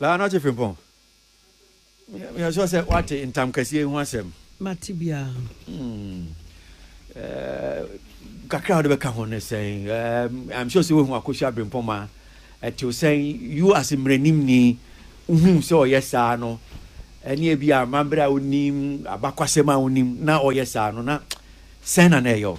Baa no ɔte Frimpong. Meyɛ sure sɛ wate ntam kɛseɛ ho asɛm. Mate biara. Hmm. Eh, kakra a wode bɛka ho ne sɛn? Eh, I'm sure sɛ wohu Akosua Abrempong ma ɛtew sɛn you as mmaranimni wohu sɛ ɔyɛ saa no ɛne ebi a amammerɛ a wonim abakwasɛm a wonim na ɔyɛ saa no na sɛn na na ɛyɛ wo?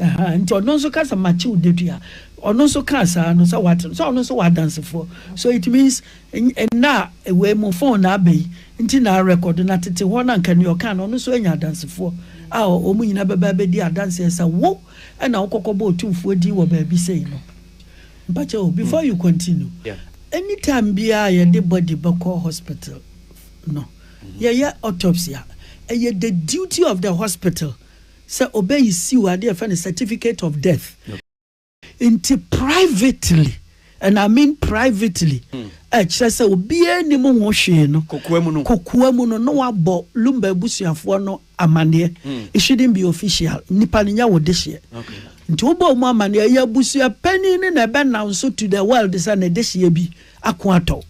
Aha nti ɔno nso ka sɛ makye wo dadua ɔno nso kaa saa no sɛ wate no sɛ ɔno nso wɔ adansefoɔ so it means nna a wei mu phone na aba yi nti na record na tete hɔ na nka nea ɔkaa no ɔno nso anya adansefoɔ a wɔn nyinaa bɛba bɛdi adanseɛ sɛ wo ɛna wokɔkɔ bɔ otumfoɔ din wɔ baabi sei no mpakyɛ o before you continue yeah. anytime biara yɛde body bɛkɔ hospital no yɛyɛ autopsy a ɛyɛ the duty of the hospital sɛ ɔbɛissuw ade a yɛfrɛ no certificate of death. Enti privately, and I mean privately, a ɛkyerɛ sɛ obiara nnim ho hwee no, kokoa mu no, na wabɔ Lumba abusuafoɔ no amanneɛ. It shouldn't be official. Nnipa no, nyɛ wo dehyeɛ. Nti wobɔ wɔn amanneɛ a, ɛyɛ abusua panin no na ɛbɛnanso to the world sɛ ne dehyeɛ bi ako atɔ wo.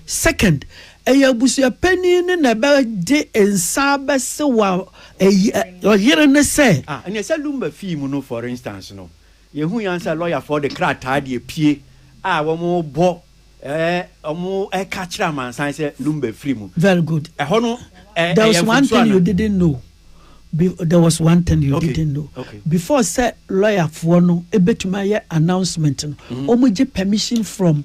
Second, ɛyɛ abusua panin no na ɛbɛgye nsa abɛse wa ɛyi ɛ, ɔyere no sɛ. Ah, ɛneɛ sɛ Lumba fii mu no for instance no, yɛhui ara sɛ lɔyafoɔ de krataa de apue a wɔrebɔ ɛɛ, wɔreka akyerɛ amansan sɛ Lumba afiri mu. Very good. Ɛhɔ no ɛ, There ɛyɛ was one mfomsoɔ thing you anaa? didn't know, be, there was one thing you Okay, didn't know, okay. before sɛ lɔyafoɔ no ɛbɛtumi ayɛ announcement no, wɔgye permission from.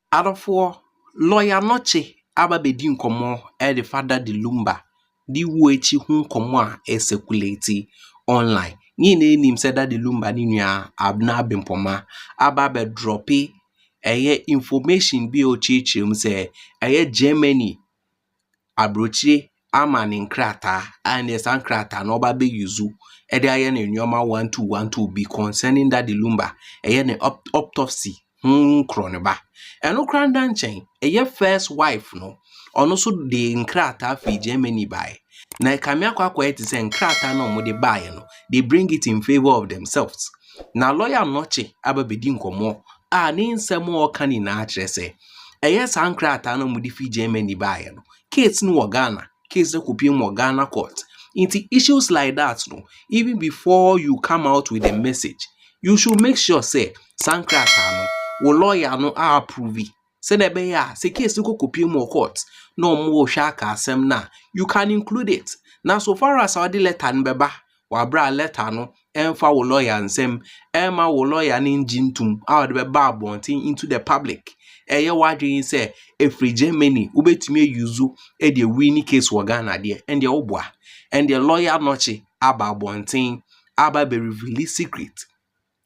Adɔfoɔ, lɔya no kye aba bɛdi nkɔmmɔ de Fada de Lumba de wuo akyi ho nkɔmmɔ a ɛresɛkulati online. Ne nyinaa nim sɛ Dade Lumba ne nua Abena Abempoma aba abɛdrɔpe ɛyɛ information bi a ɔkyerɛkyerɛ mu sɛ ɛyɛ Germany aburokyire ama no nkrataa a ɛnneɛ saa nkrataa no ɔba abɛ use de ayɛ ne nneɛma one two one two bi concerning Daddy Lumba. Ɛyɛ ne ɔp ɔptɔpsi ho korɔnoba. Ɛno koraa nna nkyɛn, ɛyɛ first wife no, ɔno nso de nkrataa firi Germany baeɛ. Na ɛkame akɔ akɔyɛ te sɛ nkrataa no a wɔde baeɛ no, they bring it in favour of themselves. Na lawyer no kye aba abɛdi nkɔmmɔ a ne nsɛm a ɔreka nyinaa kyerɛ sɛ, Ɛyɛ saa nkrataa no a wɔde fi Germany baeɛ no, case no wɔ Ghana. Case no kɔpue mu wɔ Ghana court. Nti issues like that no, even before you come out with a message, you should make sure sɛ, saa nkrataa no, wo lawyer no a approve, sɛdeɛ ɛbɛyɛ a sɛ case no kɔkɔpue mu wɔ court na wɔrehwɛ aka asɛm no a, you can include it. Na so far as a wɔde letter no bɛba wabra lɛta no mfa wo lɔya nsam mma wo lɔya no ngye ntom a ɔde bɛba abɔnten into the public. Ɛyɛ w'adwene sɛ ɛfiri Germany wobɛtumi ayuzu de awini case wɔ Ghana deɛ ɛndeɛ woboa. Ɛndeɛ lɔya nɔkye aba abɔnten aba abɛrevili secret.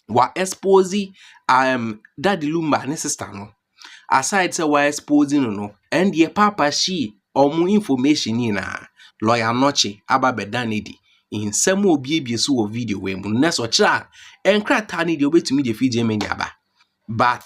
wa expose um, daddy lumba ne sister no aside sɛ wa expose no no ɛndeɛ papa shi ɔmo information nyinaa lawyer nɔkye aba bɛda no adi nsɛm a obiebie so wɔ video wei mu no nɛ sɛ ɔkyerɛ a nkrataa no deɛ obetumi de fi Germany aba but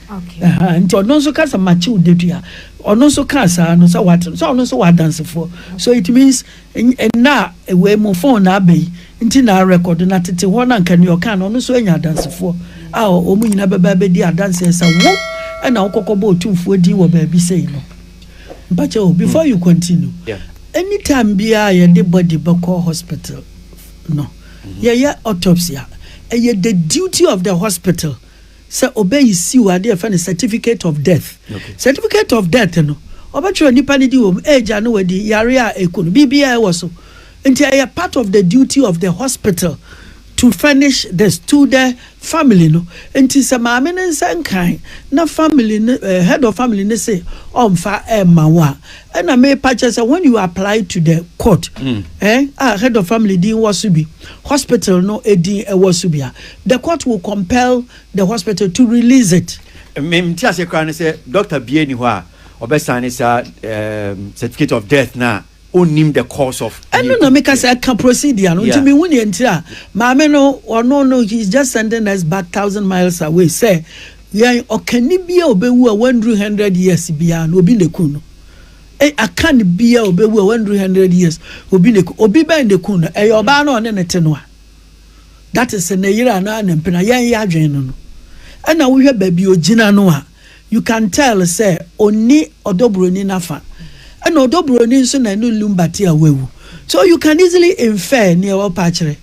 Ahaa, nti ɔno nso ka sɛ makye wo dadua. Ɔno nso kaa saa no sɛ wate no, sɛ ɔno nso wɔ adansefoɔ. So it means nna a wei mo phone na aba yi nti na arekɔdo na tete hɔ no anka nea ɔkaa no ɔno nso anya adansefoɔ a wɔn nyinaa bɛba abɛdi adanseɛ sɛ wo ɛna wokɔkɔbɔ otumfoɔ din wɔ baabi sei no. Mpakyɛ o, before you continue, Yeah. anytime biara a yɛde body bɛkɔ hospital no, yɛyɛ autopsy a, ɛyɛ the duty of the hospital sɛ ɔbɛyi siw adeɛ yɛfrɛ no certificate of death okay. certificate of death no ɔbɛtwerɛ nipa no di wɔ mu age a na wadi yare a ɛku no biribiaa ɛwɔ so nti ɛyɛ part of the duty of the hospital to furnish this to the family no nti sɛ maame no nsa nkan na family no uh, head of family no se ɔmfa ɛma wo a ɛna mepa kyɛ sɛ when you apply to the court mm. eh, a head of family din wɔ so bi hospital no ɛdin ɛwɔ so bi a The court will compel the hospital to release it. Me nte aseɛ koraa ne sɛ doctor biaa nni hɔ a ɔbɛ sign saa certificate of death no a ɔnnim the cause of death. Ɛno na meka sɛ ɛka procedure no nti menhu neɛ nti a maame no ɔno no he is just sending us back thousand miles away sɛ yɛn ɔkani biaa ɔbɛwu a wanduru hundred years biaa no obi na ɛku no akan biaa ɔbɛwu a wanduru hundred years obi na ɛku obi bɛn na ɛku no ɛyɛ ɔbaa no ɔne ne te no a that is ne yere anaa ne mpena yɛn yɛ adwene no no ɛna wohwɛ baabi ogyina no a you can tell sɛ onni ɔdɔ buroni nafa ɛna ɔdɔ buroni nso na ɛne lumba te a wawu so you can easily infer nea ɔpa akyerɛ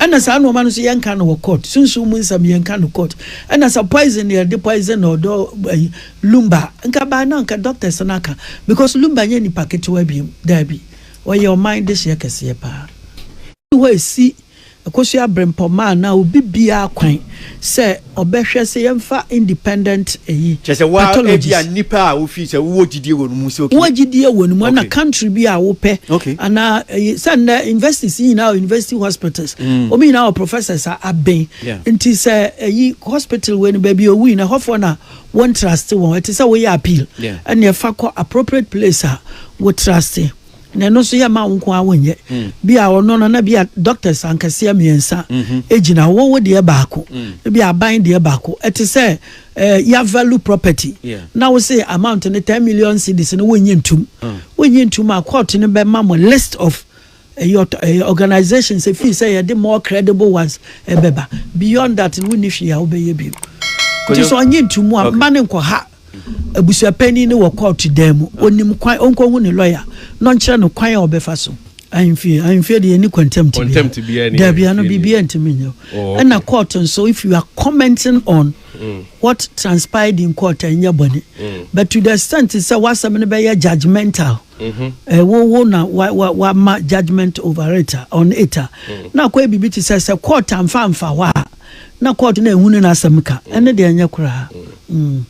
ɛna saa nneɛma no nso yɛnka no wɔ court sunsun mu nsɛm yɛnka no court ɛna sɛ poison yɛ de poison na ɔdɔ ɛyi lumba nka baa na nka doctors n'aka because lumba nyɛ nipa ketewa bi daabi Wɔyɛ ɔman dehyeɛ kɛseɛ paa firi hɔ ɛsi Akosua Brempɔmaa a na obi biara kwan sɛ ɔbɛhwɛ sɛ yɛmfa independent ɛyi Kyerɛ sɛ woa ebi a pathologist. nnipa a wofii sɛ wowɔ gyidie wɔ no mu sɛ Wowɔ okay gyidie wɔ no mu ɛna okay country bi a wopɛ okay. anaa ɛyi sɛ nnɛ universities yi nyinaa wɔ university hospitals Mm wɔn nyinaa wɔ professors a aben yeah. nti sɛ ɛyi hospital wei no baabi a ɔwui no ɛhɔfoɔ na Wo ntrust wɔn, ɛte sɛ woyɛ appeal, ɛna ɛfa kɔ appropriate place a wo trust, na ɛno nso yɛ ma wo nko ara wonyɛ. Mm. Bi a ɔno no na bi a doctors ankɛseɛ mmiɛnsa mm-hmm. gyina hɔ, wo deɛ baako, mm. bi aban deɛ baako. Ɛte sɛ ɛɛ eh, ya value property. Na wo se amount no ten million cedis no wonyi ntum. Mm. Wonyi ntum a court no bɛma mo list of Ɛyɛ ɔtɔ ɛyɛ organisations efii sɛ yɛde more credible ones ɛbɛba beyond that no wonni hwee a wobɛyɛ bio nti sɛ ɔnye nti mu a mma ne nkɔha abusuapanin no wɔ court dan mu onim kwan ɔnkɔhu ne lawyer na ɔnkyerɛ no kwan a ɔbɛfa so ahemfie ahemfie deɛ ɛni contempt biara daabi ano biribiara ntumi nyɛ oh, ɛna court nso if you are commenting on mm. what transpired in court ɛnyɛ bɔne mm. but to the extent sɛ wasɛm no bɛyɛ judgmental Mhm. Eh, wo wo na wa wa wa ma judgement over it a on it a mm. na akɔyɛ biribi te sɛ sɛ court amfa amfa hɔ a na court na ehu ne n'asɛm ka mm. ɛne deɛ ɛnyɛ koraa mm.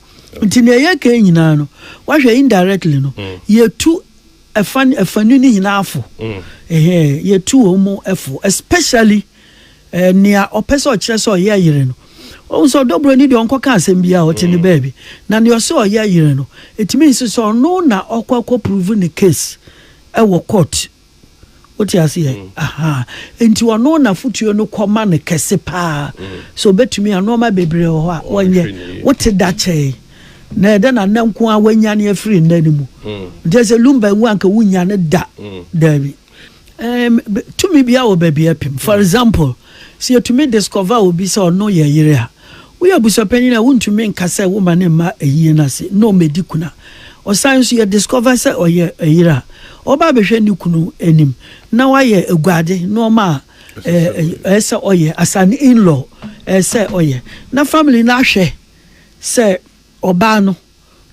nti na ɛyɛ kɛn nyinaa no wahwɛ indirectly no yɛtu ɛfa ɛfanu ne nyinaa fo ɛhɛn yɛtu wɔn mu ɛfo especially. Ɛɛ, nea ɔpɛ sɛ ɔkyerɛ sɛ ɔyɛ yere no, ohu sɛ ɔdɔ buroni deɛ ɔnkɔka asɛm biara ɔte ne baabi. Na nea ɔsɛ ɔyɛ yere no, ɛtumi nso sɛ ɔno na ɔkɔ akɔ prove ne case ɛwɔ court. Wote aseɛ? Ahaa. Enti ɔno na fotuo no kɔ ma no kɛse paa. So ɔbɛtumi a, nnoɔma bebree wɔ hɔ a ɔnyɛ. Wote da kyɛe. Na ɛdɛ na nnɛ nko ara wanyane afiri nna no mu. Nti ɛsɛ lumba nwu anka wonnya no da. Daabi. tumi bi a wɔ baabi apim for example sɛ yɛtumi discover obi sɛ ɔno yɛ yere a woyɛ abusuapanyin a wontumi nka sɛ wo ma ne mma ayie no ase na ɔmɛdi kuna ɔsan nso yɛ discover sɛ ɔyɛ yere a ɔba abɛhwɛ ne kunu anim na wayɛ aguade nneɛma a ɛsɛ ɔyɛ as an in-law ɛsɛ ɔyɛ na family no ahwɛ sɛ ɔbaa no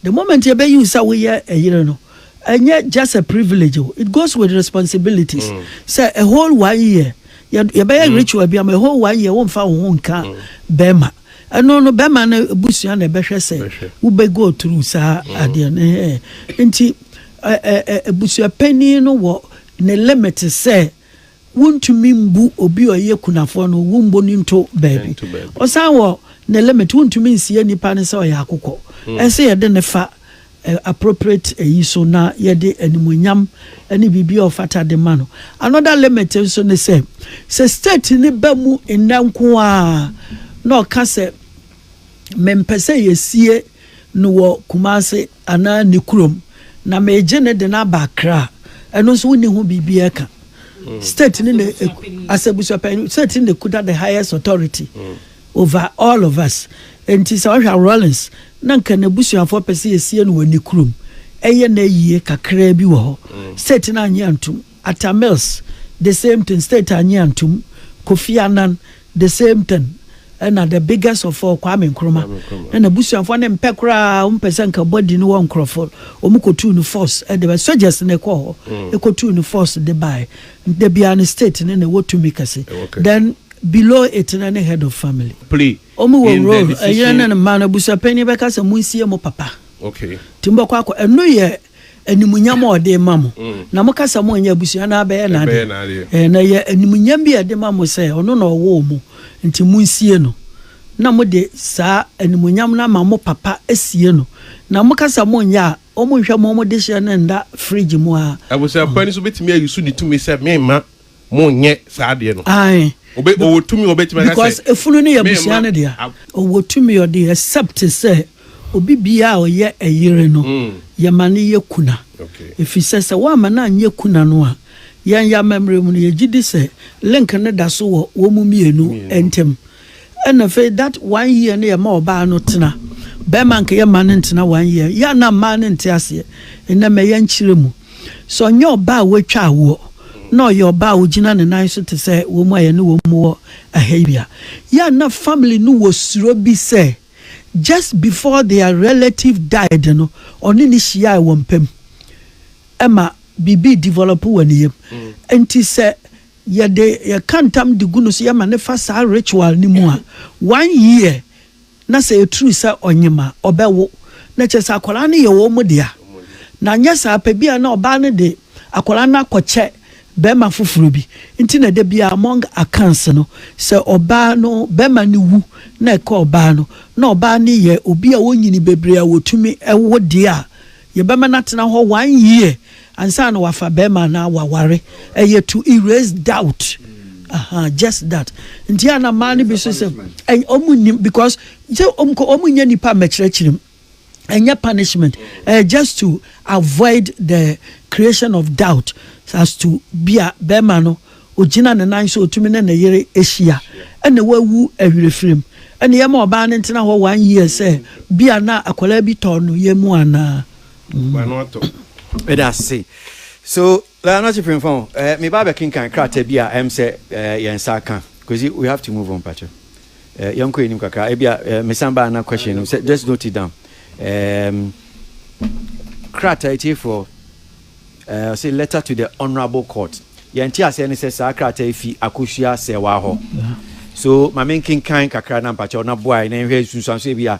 The moment yɛ bɛ use sɛ wo yɛ ɛyere no, ɛnyɛ just a privilege o, it goes with responsibilities. Mm. Sɛ a whole one year, yɛ yɛ bɛ yɛ mm. ritual bi ama a whole one year wo nfa wo ho nka mm. bɛrima. Ɛno no bɛrima no busua na ɛbɛhwɛ sɛ wo bɛ go through saa mm. adeɛ no hɛn. Nti ɛɛ ɛɛ abusua panyin no wɔ ne limit sɛ Wontumi mbu obi a ɔyɛ kunafoɔ no, wombɔ no nto baabi. Nto baabi. Ɔsan wɔ ne limit, wontumi nsie nipa no sɛ ɔyɛ akokɔ. Ɛsɛ sɛ yɛde no fa ɛ, appropriate ayi so na yɛde animuonyam ne biribi a ɔfata de ma no. Another limit nso ne sɛ, sɛ state no ba mu nnɛ nko ara na ɔka sɛ, mempɛ sɛ yɛsie no wɔ Kumase anaa ne kurom, na megye no de no aba Accra, ɛno nso wonni ho biribi ɛka. Mm. State ne ne asɛbusuapɛn state ne kuta the highest authority mm. over all of us. Nti sɛ ɔhwɛ Rawlings na nka n'abusuafoɔ pɛ sɛ yɛsie no wɔ ne kurom ɛyɛ na yie kakraa bi wɔ hɔ. Mm. State no anyi antum. Atta Mills the same thing, state annye antom, Kofi Annan the same thing, ɛna the biggest of all Kwame Nkrumah, na n'abusuafoɔ no mpɛ koraa, wɔn pɛ sɛ nka body no wɔ nkorɔfoɔ, wɔn kɔtuu no force de bae, soldiers na ɛkɔɔ hɔ kɔtuu no force de bae, nti da biara no state no na ɛwɔ tumi kɛse, then below it no ne head of family. Wɔn wɔ role, ɛyere ne ne mma no, abusuapanin bɛka sɛ monsie mo papa, nti mobɛkɔ akɔ, ɛno yɛ Animuonyam a ɔde rema mo. Na moka sɛ monyɛ abusua no abɛyɛ n'adeɛ. Na ɛyɛ animuonyam bi a ɛde ma mo sɛ ɔno na ɔwoo mo, nti monsie no. Na mode saa animuonyam no ama mo papa sie no. Na moka sɛ monyɛ a, wɔnhwɛ mo dehyeɛ no nna fridge mu a. Abusua pa ni so bɛtumi ayi so di tumi sɛ memma Mo nyɛ saa adeɛ no. Ae. Obe ɔwɔ tumi ɔbɛtumi aka sɛ. Because efunu no yɛ abusua no dea. Ɔwɔ tumi ɔde except sɛ obi biaa ɔyɛ ɛyere no yɛma no yɛ kuna. Efisɛ sɛ woamma no anyɛ kuna no a, yɛn yɛ amammerɛ mu no yɛgyedi sɛ link no da so wɔ wɔn mmienu ntem. Ɛna afei that one year no yɛ ma ɔbaa no tena. Bɛɛma nka yɛ ma no ntena one year. Yɛ a na mmaa no nte aseɛ. Nnɛ mɛ yɛ nkyerɛ mu. Sɛ ɔnyɛ ɔbaa a watwa awoɔ na ɔyɛ ɔbaa a ɔgyina ne nan so te sɛ wɔn a yɛne wɔn wɔ ɛha yi a, yɛ a na family no wɔ suro bi sɛ just before their relative died no ɔne no hyiaɛ wɔ mpam. Ɛma biribi develop wɔ ne yam. Nti sɛ Yɛde yɛka ntam de gu no so yɛma no fa saa ritual no mu a, one year na sɛ ɛturu sɛ ɔnyem a, ɔbɛwo. Na kyerɛ sɛ akwadaa no yɛ wɔn dea. Na anyɛ saa pɛ bi a na ɔbaa no de akwadaa no akɔkyɛ barima foforɔ bi. Nti na da biara among accounts no, sɛ ɔbaa no, barima no wu na ɛka ɔbaa no, na ɔbaa no yɛ obi a ɔnyini bebree a wɔtumi wo deɛ a, yɛbɛma no atena hɔ one year. Ansa na wafa bɛɛma anaa waware ɛyɛ to erase doubt aha just that nti a na mmaa no bi so sɛ ɔmo nnim because sɛ ɔmo ɔmo nyɛ nipa mɛkyerɛkyerɛ mu ɛnyɛ punishment ɛyɛ just to avoid the creation of doubt as to bi a bɛɛma no ogyina ne nan so otumi ne ne yere ehyia ɛna wawu ɛwerɛfiri mu ɛna yɛma ɔbaa no ntena hɔ one year sɛ bi a na akwadaa bi tɔɔ no yɛ mu anaa. w'ano atɔ. Meda ase. So eh, Nurse Premfa o, eh, meba abɛkenkan krataa bi a ɛm sɛ eh, yɛn nsa aka. Kwesi, we have to move on pakyɛ. Eh, yɛnkɔ anim kakra. Ebi a eh, mesan baa na question no sɛ just note it down. Um, krataa etiefoɔ eh, say letter to the honourable court. Yɛn te aseɛ ne sɛ saa krataa yi fi akosua sɛwa hɔ. So ma menkenkan kakra na mpakyɛw na boae na nhwɛ nsunsuanso ebi a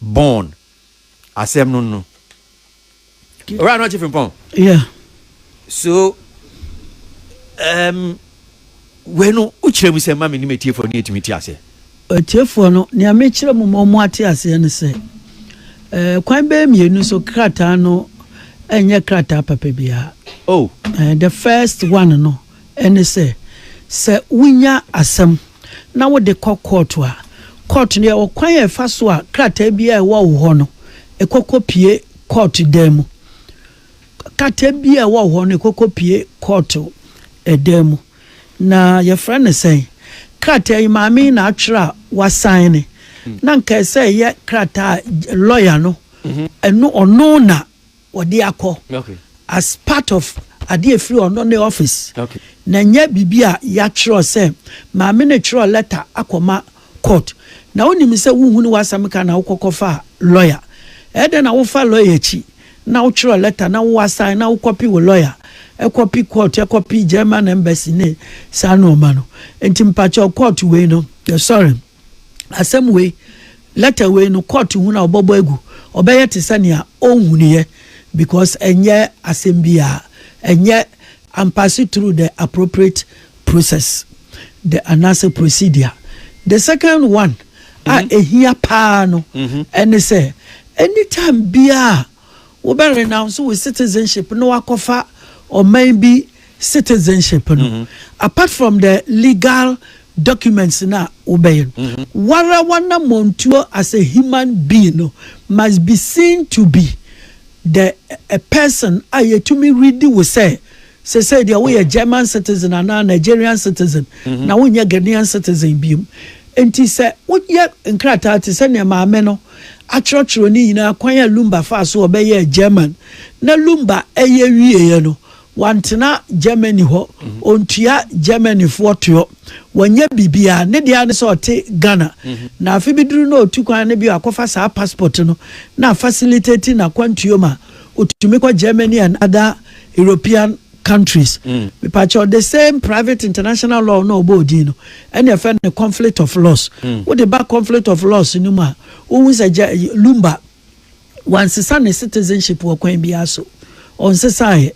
born asɛm no no owura no ɔkye frimpɔn yeah so um, wei no wokyerɛ mu sɛ ma menim atiefoɔ no yɛtumi te aseɛ atiefoɔ no nea mekyerɛ mu ma ɔmo ate aseɛ no sɛ eh, kwan bɛyɛ mmienu so krataa no ɛnyɛ krataa papa biara oh. eh, the first one no ne sɛ, sɛ wunya asɛm na wode kɔ kɔɔto a, kɔɔto no yɛ ɔkwan a ɛfa so a krataa biara a ɛwɔ wo hɔ no, ɛkɔ kɔpue kɔɔto dan mu. Krataa biara a ɛwɔ wo hɔ no, ɛkɔ kɔpue kɔɔto dan mu. Na yɛfrɛ no sɛn? Krataa yi, maame yi na atwerɛ a wasan ne. Na nka ɛsɛ ɛyɛ krataa a lɔya no, ɛno ɔno na. wɔde akɔ as part of adeɛ a ɛfiri ɔno ne office na ɛnyɛ biribi a yɛatwerɛ sɛ maame no twerɛ letter akɔma court na wonim sɛ wohunu w'asɛm ka na wokɔkɔ fa lawyer ɛyɛ dɛn na wofa lawyer akyi na wotwerɛ letter na wo assign na wokɔpi wo lawyer ɛkɔpi court ɛkɔpi German embassy ne saa nneɛma no nti mpakyɛw court wei no yɛsɔre asɛm wei, letter wei no, court ho na wɔbɛbɔ agu. Ɔbɛyɛ te sɛ nea ɔnhunuiɛ because ɛnyɛ asɛm biara, ɛnyɛ ampase through the appropriate process the anaasɛ procedure. The second one a ɛhia paa no ɛne sɛ, anytime biara a. wobɛ renounce wo citizenship na wakɔfa ɔman bi citizenship no apart from the legal documents no a wobɛyɛ no wara w'anamɔntuo as a human being no must be seen to be the a person a yɛtumi readi wo sɛ Sesei deɛ woyɛ German citizen anaa Nigerian citizen na wonyɛ Ghanaian citizen biom. Enti sɛ woyɛ nkrataa te sɛ nea maame no atwerɛtwerɛ no nyinaa kwan a Lumba faa so ɔbɛyɛɛ German na Lumba yɛ wieɛ no, wantena Germany hɔ, ɔntua Germanyfoɔ toɔ, wanyɛ biribiara, ne deɛ ara ne sɛ ɔte Ghana. Na afe bi duru na ɔtu kwan no bio akɔfa saa passport no na afacilitati n'akwantuo ma ɔtumi kɔ Germany and other. European countries. Mepakyɛw, the same private international law na ɔbɔ odin no, ɛna ɛfɛ no conflict of laws. Wode ba conflict of laws no mu a, wohu sɛ gya Lumba, wansesa ne citizenship wɔ kwan biara so. Ɔnsesaeɛ.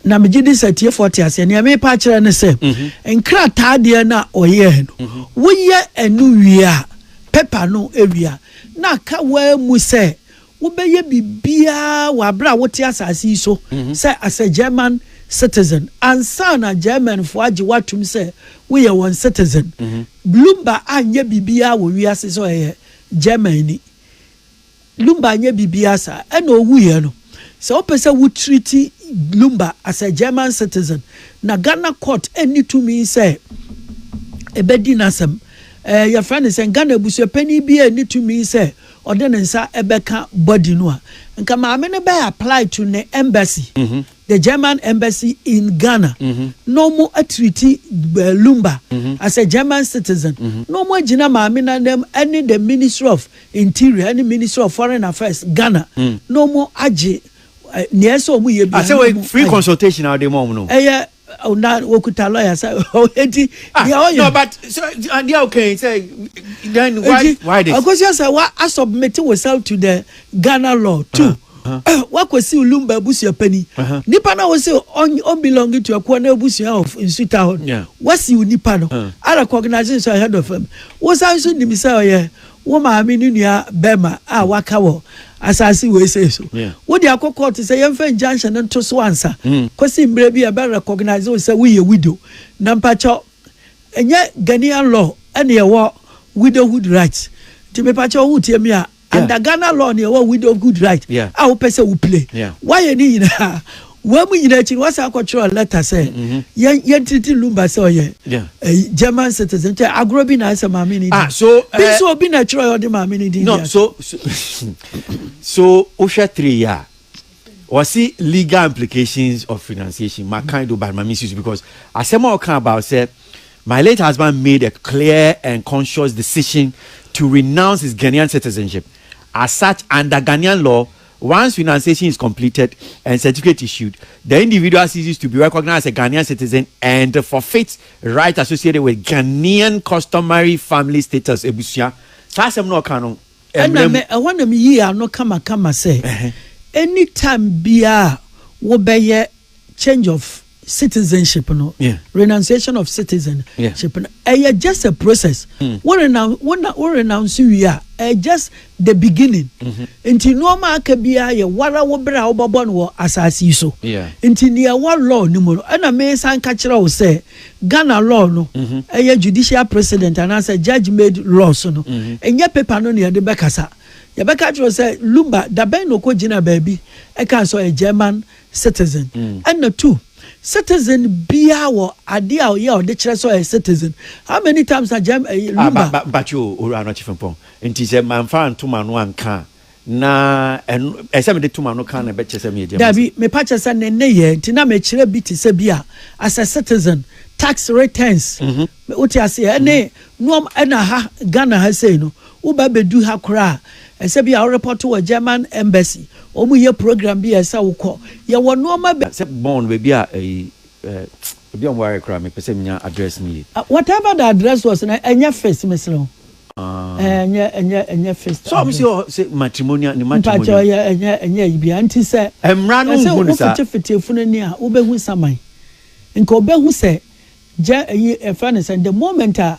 Na megye di sɛ tiefoɔ te aseɛ. Nea merepa akyerɛ ne sɛ, nkrataa deɛ no a ɔyɛɛ no, woyɛ ɛno wie a, paper no wie a, na aka waa mu sɛ Wobɛyɛ biribiara wɔ aberɛ a wote asase yi so sɛ as a German citizen ansa na Germanfoɔ agye wo atom sɛ woyɛ wɔn citizen. Lumba anyɛ biribiara wɔ wiase sɛ ɔyɛ Germanni. Lumba anyɛ biribiara saa. Ɛna ɔwuiɛ no, sɛ wopɛ sɛ wo treati Lumba as a German citizen, na Ghana court nni tumi sɛ ɛbɛdi n'asɛm. Ɛɛ, yɛfrɛ no sɛn? Ghana abusuapanin biara nni tumi sɛ Ɔde ne nsa bɛka body no a, nka maame no bɛ apply to ne embassy, the German embassy in Ghana, na ɔmo atreati Lumba as a German citizen, na ɔmo agyina maame no anam ɛne the Ministry of Interior ɛne Ministry of Foreign Affairs Ghana, na ɔmo agye nea ɛsɛ ɔmo yɛ biara na ɔmo ayɛ. Asɛ wei free consultation a wode ma ɔmo no? Ɛyɛ Oh, na wɔkuta lawyer sɛ ɔdi ah, deɛ ɔyɛ no but so adeɛ a wokan sɛ then why why this akɔsua sɛ wa asubmit yourself to the ghana law too uh -huh. uh, wakɔsi lumba abusua pani uh -huh. nipa na wɔsi ɔnbelong to ɛkoɔ na abusua of nsuta hɔ yeah. wasi nipa no uh -huh. ara recognize nso ahead of him wosan nso nim sɛ ɔyɛ wo maame ne nua bɛrima a waka wɔ asase wei sei so wode akɔ kɔɔto sɛ yɛmfa injunction no nto so ansa mm. kɔsi mmerɛ bi a ɛbɛ recognize wo sɛ woyɛ widow na mpakyɛw ɛnyɛ Ghanaian law ɛne ɛwɔ widowhood right nti mepakyɛw wotie me a under Ghana law ne ɛwɔ widowhood right a wopɛ sɛ wo play woayɛ ne nyinaa wɔn mu nyinaa akyi no wɔsan kɔtwerɛ lɛta sɛ yɛn yɛn tiriti lumba sɛ ɔyɛ Yeah. ɛyi german citizen kyɛ agorɔ bi na ayɛ sɛ maame ne di Ah, so, bi eh, nso obi na ɛtwerɛ yɛ ɔde maame ne din no di so so so wohwɛ three yɛ a wɔse legal implications of renunciation makan do but mame susu because asɛm a ɔka about sɛ my late husband made a clear and conscious decision to renounce his ghanaian citizenship as such under ghanaian law Once renunciation is completed and certificate issued, the individual ceases to be recognized as a Ghanaian citizen and forfeits rights associated with Ghanaian customary family status, abusua. Saa asɛm no a ɔka no, mmara mu. Ɛna ɛhɔ na meyii ano kamakama sɛ, Any time biara a wobɛyɛ. change of citizenship no yeah. renunciation of citizenship no ɛyɛ yeah. just a process mm. wo renounce wo na wo renounce wie a ɛyɛ just the beginning mm-hmm. nti nneɛma aka biara yɛ wara wo bere a wobɛbɔ no wɔ asase yi so yeah. nti nea ɛwɔ law no mu no ɛna mesan ka kyerɛ wo sɛ ghana law no mm-hmm. ɛyɛ mm-hmm. judicial president anaasɛ judge made laws no ɛnyɛ mm-hmm. paper no na yɛde bɛkasa yɛbɛka kyerɛ sɛ lumba dabɛn na ɔkɔ gyina baabi ɛka sɛ ɔyɛ german citizen ɛna two citizen biara wɔ adeɛ a ɔyɛ a ɔde kyerɛ sɛ ɔyɛ citizen how many times na gyɛm ɛyi eh, lumba. Ah, mpakyɛ o owura anɔkye fɛmpɔn nti sɛ manfa ntom ano anka na ɛno ɛsɛ mede tom ano kan na ɛbɛkyɛ sɛ meyɛ gyɛm. dabi mepa kyɛ sɛ ne nneyɛ nti na mekyerɛ bi te sɛ bi a as a citizen tax returns mm -hmm. wote aseɛ ɛne mm -hmm. noɔm ɛna ha ghana ha sei no Woba bedu ha koraa a, ɛsɛ sɛ bi a wo report wɔ German embassy, wɔn yɛ program bi a ɛsɛ sɛ wo kɔ. Yɛ wɔ nnoɔma bi. Sɛ Bonn baabi a ɛyi eh ebi a wɔn ayɛ koraa me pɛ sɛ me nya address no yie. Ah whatever the address was no ɛnyɛ fist mesrɛ wo eh ɛnyɛ ɛnyɛ ɛnyɛ fist address. Sɛ wɔn se wɔ hɔ sɛ matrimonial ne matrimonial. Mpakyɛ ɔyɛ ɛnyɛ ɛnyɛ ɛyi biara nti sɛ. Ɛmmra no nhu no saa. Ɛsɛ wo fete fete efunu ani a wobɛ hu saman nka ɔbɛ hu sɛ gyɛ ɛyi ɛfrɛ no sɛ the moment a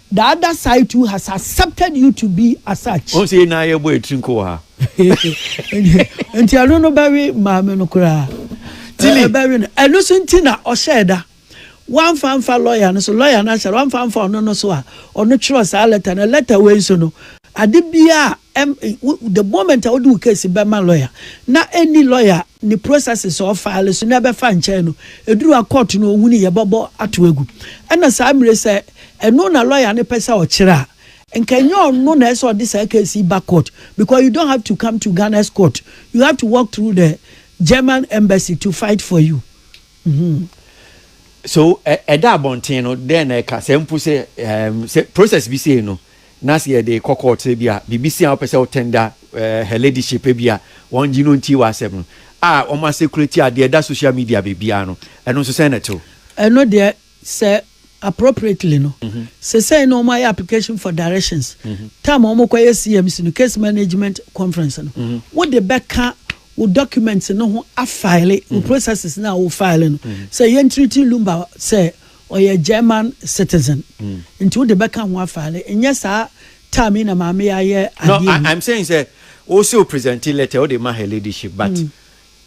The other side too has accepted you to be as such. Wɔn sɛ yɛn nyinaa yɛbɔ yɛn tiri nko wɔ ha. Nti ɛno no bɛwe maame no koraa. Tili. Ɛbɛwe no. Ɛno so nti na ɔhyɛɛ da. Wamfa mfa lɔya no so. Lɔya no ahyɛ da. Wamfa mfa ɔno no so a ɔno twerɛ saa lɛta no. Lɛta wei nso no, ade biara a the moment a wode wo case bɛma lɔya na ɛni lɔya ne processes a ɔfaale so na ɛbɛfa nkyɛn no, ɛduru a court no ɔhunu yɛbɛbɔ ato agu. Ɛna saa mmire sɛ Ɛno na lawyer no pɛ sɛ ɔkyerɛ a, nka ɛnyɛ ɔno na ɛsɛ sɛ ɔde saa case yi ba court because you don't have to come to Ghana's court, you have to walk through the German embassy to fight for you. Mm-hmm. So ɛda abɔnten no dɛn na ɛka sɛ mpo sɛ um, sɛ process bi sei no na sɛ yɛde kɔ court sɛ bi a biribi si a wopɛ sɛ wotɛnda uh, her ladyship bi a wɔn gye no nti wɔ asɛm no a wɔn asɛkurati adeɛ da social media biribiara no ɛno nso sɛn na ɛtew ɛno deɛ Sɛ appropriately no, sesei no wɔayɛ application for directions, time a wɔkɔyɛ CMC no, Case Management Conference no, wode bɛka wo documents no ho afile wo processes no a wo file no, sɛ yɛntreati Lumba sɛ ɔyɛ German citizen nti wode bɛka ho afile, nyɛ saa time yi na maame yi ayɛ adeɛ yi. No, I'm saying sɛ wose wo presente letter wode ma her ladyship but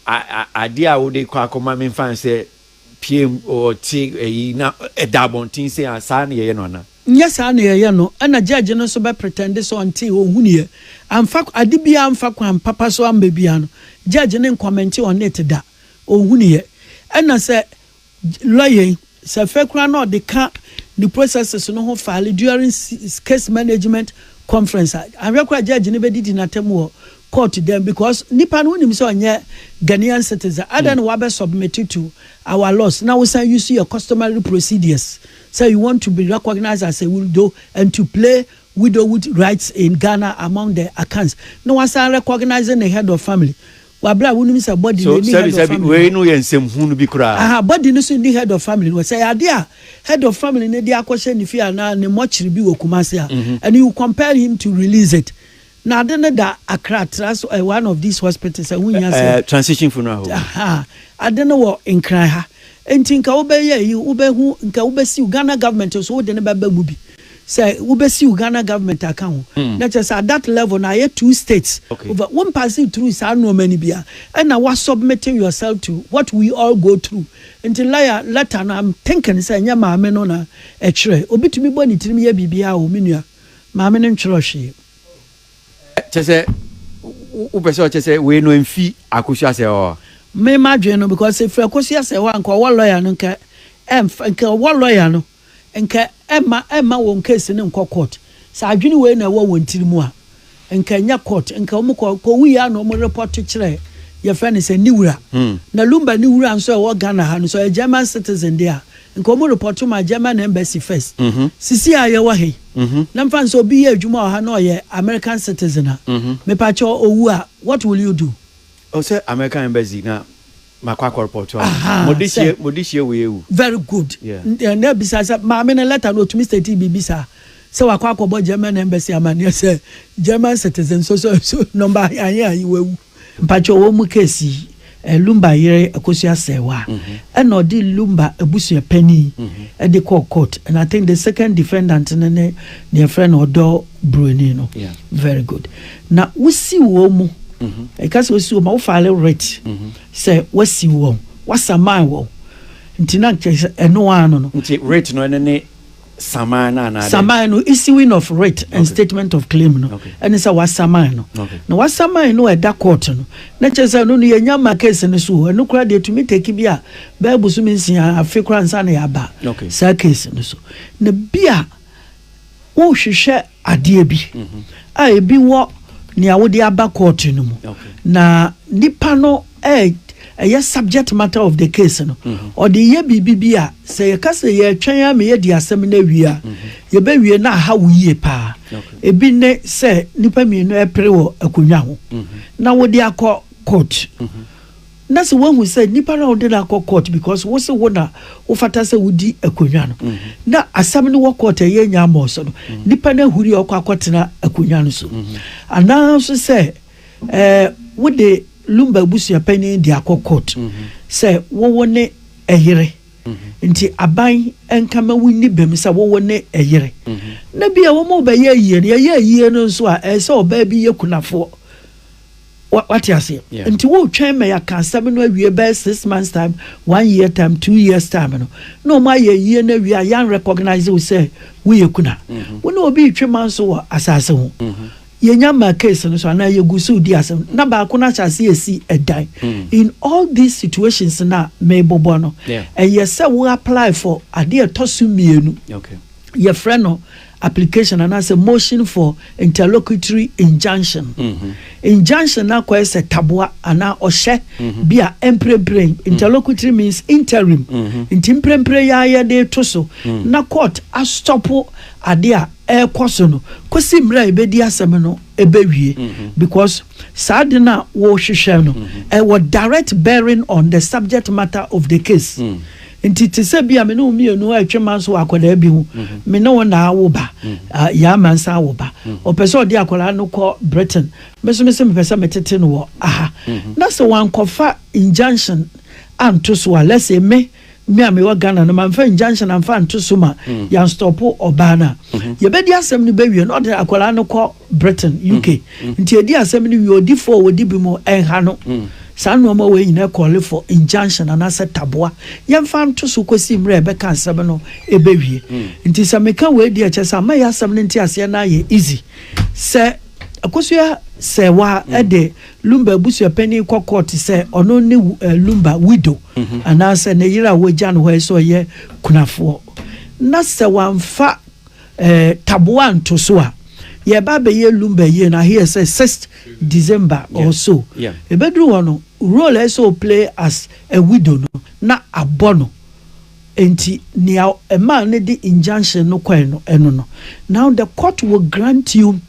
adeɛ a wode kɔ akɔma memfa nsɛ pieeɛm ɔte ayi na ɛda abɔnten sei a saa na yɛyɛ no anaa? Nyɛ saa na yɛyɛ no, ɛna judge no nso bɛ pretend sɛ ɔntee ɔnhunuiɛ, amfa ade biara amfa kwan papa so amma biara no judge no ncommente on it da, ɔnhunuiɛ. Ɛna sɛ lawyer yi, sɛ afei koraa na ɔde ka ne processes no ho file during case management conference a, anhwɛ koraa a judge no bɛdidi no atɛm wɔ court dɛn because nipa no wonim sɛ ɔnyɛ Ghanaian citizen adan na wabɛ submit to our laws na wosan use your customary procedures sɛ you want to be recognized as a widow and to play widowhood rights in Ghana among the Akans na wasan recognizing the head of family wabrɛ a wonim sɛ body no ni head of family wei no yɛ nsɛm hunu bi koraa aha body no so ni head of family no sɛ yɛ ade a head of family no de akɔhyɛ ne fie anaa ne mɔkyere bi wɔ Kumasi a and you compel him to release it Na ade no da akra tra so eh, one of these hospitals ɛho eh, hia sɛ eh, transition funeral home aha ade no wɔ nkran ha nti nka wobɛyɛ yi wobɛhu nka wobɛsiw ghana government nso wode no bɛba mu bi sɛ wobɛsiw ghana government aka ho mm. na kyerɛ sɛ at that level na ayɛ two states okay. over wo mpaase through saa nnoɔma no bia ɛna wasubmit yourself to what we all go through nti laya letter no am thinking sɛ ɛnyɛ maame no na ɛkyerɛ obi tumi bɔ ne tirim yɛ biribiaa o me nua Maame no ntwerɛ hwee. Kyɛ sɛ wo pɛ sɛ ɔkyɛ sɛ wei no ɛmfi Akosua Asɛe hɔ? Me m'adwene no because sɛ ɛfiri Akosua Asɛe hɔ a nka ɔwɔ lawyer no nka ɛmfa nka ɔwɔ lawyer no nka ɛmma ɛmma wɔn case no nkɔ court. Sɛ adwene wei na ɛwɔ wɔn tiri mu a Nka ɛnyɛ court nka ɔmo kɔ kɔ wui a na ɔmo report kyerɛ yɛfrɛ no sɛ ne wura. Na Lumba ne wura nso a ɛwɔ Ghana ha no nso ɔyɛ German citizen de a nka ɔmo report ma German embassy first. Sisi a yɛwɔ ha yi na mfa no sɛ obi yɛ adwuma wɔ ha na ɔyɛ American citizen a mepa kyɛw owu a what will you do? Ɔsɛ American embassy na Makɔ akɔ report wɔn. Ahaa, Mo de sɛ- hyie, mo de hyie wei awu. very good Yeah. N- eh, na ebisa sɛ maame no lɛta no otumi state biribi saa sɛ wakɔ akɔbɔ german embassy amaneɛ sɛ german citizen so so so nɔmba ayɛ ayi wawu mpakyɛ ɔwɔ mu case yi eh, lumba yere akosua sɛwa ɛna ɔde lumba abusua panin ɛde kɔɔ court and i think the second defendant no ne deɛ frɛ no ɔdɔ buroni no Yeah. very good Na wosiw wɔn mu. Ɛka sɛ wosiw wɔn a wofile writ sɛ wasiw wɔn, wasaman wɔn. Nti na nkyɛ sɛ ɛno ara no no. Nti writ no ɛno ne saman no anaa dɛn? Saman no, issuing of writ and statement of claim no ɛne sɛ wasaman no. Na wasaman no a ɛda court no, na kyerɛ sɛ ɛno no yɛnnya mma case no so o. Ɛno koraa deɛ ɛtumi take bi a bɛyɛ bosome nsia, afe koraa ansa na yɛaba saa case no so. Na bi a. Worehwehwɛ adeɛ bi a ebi wɔ nea wode aba court no mu na nipa no ɛyɛ subject matter of the case no, ɔde yɛ biribi bi a, sɛ yɛka sɛ yɛretwɛn ara ma yɛadi asɛm no awie a, yɛbɛwie na aha wo yie pa ara. Ebi ne sɛ nnipa mmienu repere wɔ akonnwa ho na wode akɔ court. na sɛ woahu sɛ nipa no a wode no akɔ court because wo se wo na wofata sɛ wodi akonnwa no na asɛm no wɔ court ɛyɛ nya mmɔɔ so no nipa no ahuri a ɔkɔ akɔtena akonnwa no so anaa nso sɛ ɛɛ wode lumba abusua panyin de akɔ court sɛ wowo ne ɛyere nti aban nka ma wonni bɛm sɛ wowo ne ɛyere na bia wɔn bɛyɛ ayie no yɛyɛ ayie no nso a ɛsɛ ɔbaa bi yɛ kunafoɔ Wate aseɛ? Nti woretwɛn ma yɛaka asɛm no awie bɛyɛ six months time, one year time, two years time no, na wɔn ayɛ ayie no awie a yɛn recognise wo sɛ woyɛ kuna. Mm-hmm. Wo ne obi retwe man so wɔ asase ho. Mm-hmm. Yɛnya maa case no so anaa yɛgu so di asɛm na baako no ahyɛ ase esi ɛdan. Mm. In all these situations na mebobɔ no, ɛyɛ sɛ wo apply for adeɛ ɛtɔ so mmienu. Okay. Yɛfrɛ no application anaasɛ motion for interlocutory injunction. Injunction no akɔyɛ sɛ taboa anaa ɔhyɛ bi a mprempren, interlocutory means interim, nti mprempren yi ara yɛde reto so na court astɔpo ade a ɛrekɔ so no kosi mmerɛ a yɛbɛdi asɛm no bɛwie because saa ade no a wɔrehwehwɛ no, ɛwɔ direct bearing on the subject matter of the case. Nti te sɛ bi a me ne wo mmienu retwe manso wɔ akwadaa bi ho, me ne wo na awo ba, yɛn ama nsa awo ba, ɔpɛ sɛ ɔde akwadaa no kɔ Britain, me nso me se mepɛ sɛ metete no wɔ ha, na sɛ wankɔfa injunction anto so a, let's say me, me a mewɔ Ghana no, mamfa injunction amfa anto so ma yɛanstɔpo ɔbaa no a, yɛbɛdi asɛm no bɛwie na ɔde akwadaa no kɔ Britain, UK. Nti edi asɛm no wie, odifo a odi bem nha no. Saa nnoɔma wei nyinaa yɛ call for, injunction, anaasɛ taboa. Yɛmfa nto so kɔsi mmerɛ a yɛbɛka asɛm no bɛwie. Nti sɛ meka wei deɛ ɛkyerɛ sɛ ama yɛ asɛm no nteaseɛ no ayɛ easy. Sɛ Akosua Serwaa de Lumba abusuapanin kɔ court sɛ ɔno ne Lumba widow, anaasɛ ne yere a wɔagya no hɔ yi sɛ ɔyɛ kunafoɔ, na sɛ wamfa Eh, taboa nto so a, yɛreba abɛyɛ lumber yie no, I hear sɛ sixth December Yeah, or so. yeah. Ɛbɛduru hɔ no, role a ɛsɛ sɛ o play as a widow no, na abɔ no. Enti nea ɛmaa no de injunction no kɔe no, ɛno no. Now the court will grant you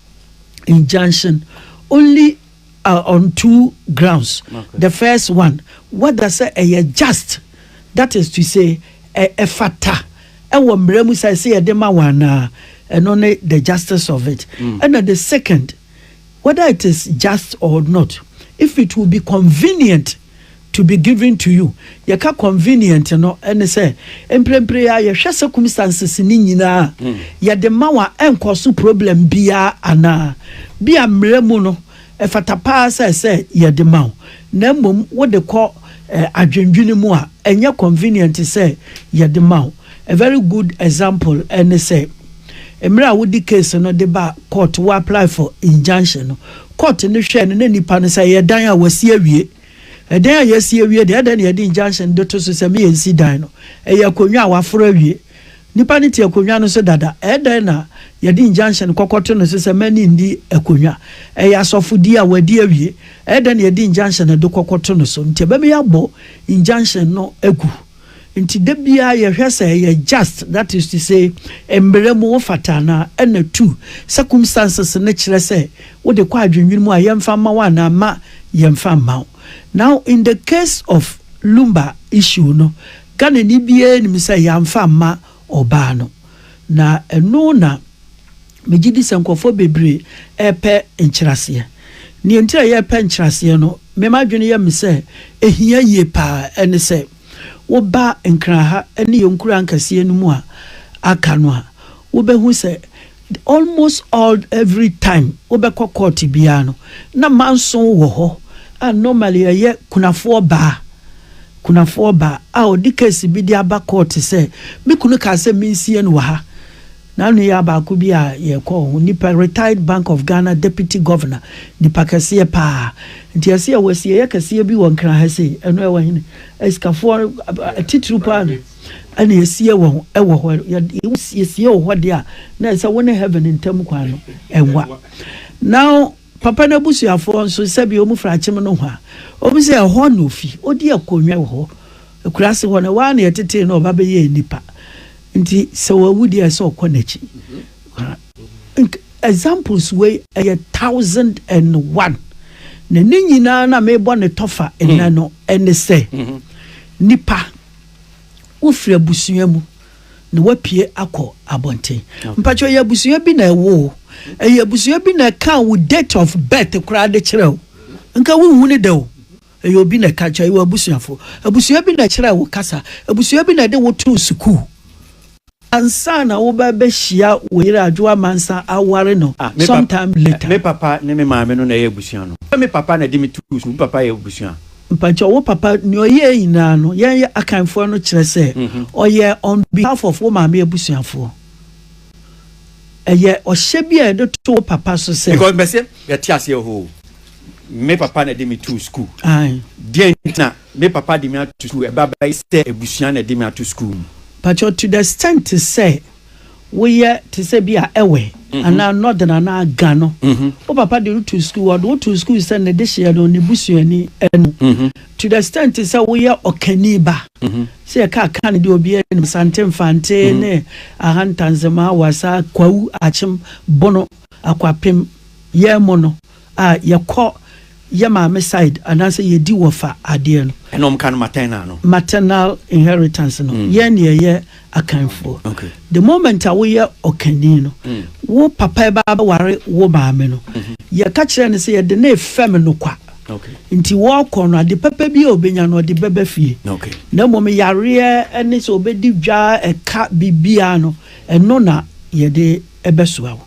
injunction only uh, on two grounds. Okay. The first one, whether say ɛyɛ just, that is to say, ɛfata ɛwɔ mmerɛ mu sɛ ɛsɛ yɛde ma wɔn anaa ɛno ne the justice of it. Mm. And the second, whether it is just or not, if it will be convenient to be given to you. Yɛka convenient no, ɛne sɛ, mprempren ara yɛhwɛ circumstances no nyinaa a, yɛde ma wo a, ɛnkɔ so problem biara anaa? Bi a mmara mu no, ɛfata paa sɛ sɛ yɛde ma wo, na mmom wode kɔ adwendwene mu a, ɛnyɛ convenient sɛ yɛde ma wo. A very good example ne sɛ, mmerɛ a wode case no de baa court, wo apply for injunction no, court no hwɛɛ no na nipa no sɛ ɛyɛ dan a wɔasi awie, Ɛdan a yɛasi awie deɛ, adɛn na yɛde injunction de to so sɛ me yɛnsi dan no? Ɛyɛ akonnwa a wɔaforo awie. Nnipa no te akonnwa no so dada. Ɛdɛn na yɛde injunction kɔkɔ to no so sɛ mɛne nni akonnwa? Ɛyɛ asɔfodie a wɔadi awie. Ɛdɛn na yɛde injunction de kɔkɔ to no so? Nti ɛbɛma yɛabɔ injunction no agu. Nti da biara yɛhwɛ sɛ ɛyɛ just that is to say mmerɛ mu wo fata anaa ɛna two circumstances no kyerɛ sɛ wo de kɔ adwennwene mu a yɛmfa mma wo anaa mma yɛmfa mma wo. Now in the case of Lumba issue no Ghanani biara nim sɛ yɛamfa mma ɔbaa no na ɛno na Megye di sɛ nkurɔfoɔ bebree repɛ nkyerɛaseɛ. Deɛ nti a yɛrepɛ nkyerɛaseɛ no, me m'adwene yɛ me sɛ ɛhia yie pa ara ne sɛ, woba Nkran ha ne yɛn nkuro ankɛseɛ no mu a aka no a, wobɛhu sɛ almost all every time wobɛkɔ court biara no, na manso wɔ hɔ a normally ɛyɛ kunafoɔ baa, kunafoɔ baa a ɔde case bi de aba court sɛ, me kunu kaa sɛ mensie no wɔ ha. Na nuyaa baako bi a yɛkɔɔ ho nipa retired bank of Ghana deputy governor nipa kɛseɛ paa nti ɛse yɛwɔ asieɛ kɛseɛ bi wɔ nkran ha sei ɛno ɛwɔ hene asikafoɔ atitiriw paa no ɛna ɛsie wɔ ɛwɔ hɔ yɛsiesie wɔ hɔ deɛ a na ɛsɛ wo ne heaven ntam kwan no ɛwa now Papa n'abusuafoɔ nso, sɛdeɛ wɔn firi akyem nohoa, wɔn sɛ ɛhɔ na ɔfi, ɔdi akonnwa wɔ hɔ. Akurase hɔ no, ɛhɔ ara na yɛtetee no, ɔba bɛyɛɛ nipa. Nti sɛ wawu deɛ, ɛsɛ sɛ ɔkɔ n'akyi. Nka examples wei ɛyɛ thousand and one. Na ne nyinaa no a merebɔ no tɔfa nnɛ no, ɛne sɛ, nipa, wofiri abusua mu. na wapue akɔ abɔnten mpatsɔ yɛ abusua bi na ɛwɔ o ɛyɛ abusua bi na ɛka wo date of birth koraa de kyerɛ o nka wohu ne dɛ o ɛyɛ obi na ɛka kyerɛ ɛyɛ abusuafo abusua bi na ɛkyerɛ wo kasa abusua bi na ɛde wo too sukuu ansa na wobɛbɛhyia wo yere adwo amansa aware no ah, sometime papa, later. Me papa ne me maame no na ɛyɛ abusua no. Me papa na de me tu su, me papa yɛ abusua. Mpakyɛw wo papa nea ɔyɛɛ nyinaa no yɛn yɛ Akanfoɔ no kyerɛ sɛ ɔyɛɛ on behalf of wo maame abusuafoɔ. Ɛyɛ ɔhyɛ bi a yɛde to wo papa so sɛ. Because mɛse yɛte aseɛ ohoo me papa na ɛde me too school. Ae. Deɛn nti na me papa de me ato school ɛba bɛyɛ sɛ abusua na ɛde me ato school mu. Mpakyɛw to the extent sɛ woyɛ te sɛ bi a ɛwɛ mhm. anaa northern anaa ga no mhm. wo papa de wotu sukuu ɔde wotu sukuu sɛ ne de hyeɛ no ne busuani ɛnu mhm. to the extent sɛ woyɛ ɔkani ba sɛ yɛka aka no deɛ obiara nim sante mfante ne ahantanzema wasa kwawu akyem bono akwapem yɛn mu no a yɛkɔ yɛ maame side anaasɛ yɛdi wɔfa adeɛ no. Ɛna wɔka no maternal no. Maternal inheritance no, yɛn ne yɛyɛ Akanfoɔ. The moment a woyɛ Ɔkani no, wo papa ɛba abɛware wo maame no, yɛka kyerɛ no sɛ yɛde no refɛm no kwa. Nti wɔkɔ no, ade papa bi a ɔbɛnya no, ɔde bɛba fie. Na mmom yareɛ ne sɛ ɔbɛdi dwa, ɛka, biribiara no, ɛno na yɛde bɛsoa wo.